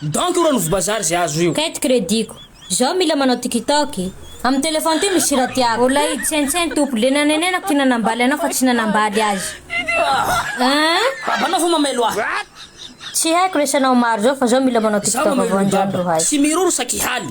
Dent ora novo bazary ze azo io. Carte credit ko Zao mila manao tikitok e. Amin'ny téléphone ty misy hira tiako. Olay i Tsentsen tompoko le nanenenako ty nanambaly anao fa tsy nanambaly azy eeh. Babanao ve mamelo ahy. Tsy haiko resy anao maro zao fa zao mila manao tiktok vao anjandrohay. Tsy miroro saky haly.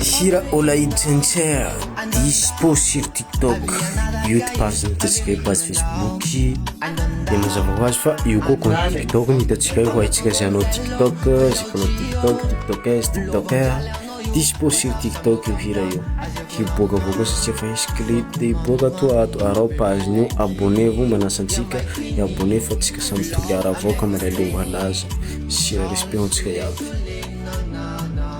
Hira Olay Jencher dispo sur TikTok, YouTube ary ny hitantsika eo page Facebook dia mazava ho azy fa io koa compte TikTok ny hitantsika eo haintsika izay hanao TikTok izay mpanao TikTok, TikTokers, TikToker dispo sur TikTok io hira io hiboakavoaka satsia efa hisy clip dia hiboaka ato ato ary ao page-ny io abonnez-vous manasa antsika dia abonnez fa antsika samy toliara avao ka mandray aloha ho an'azy sy respect ho antsika iaby.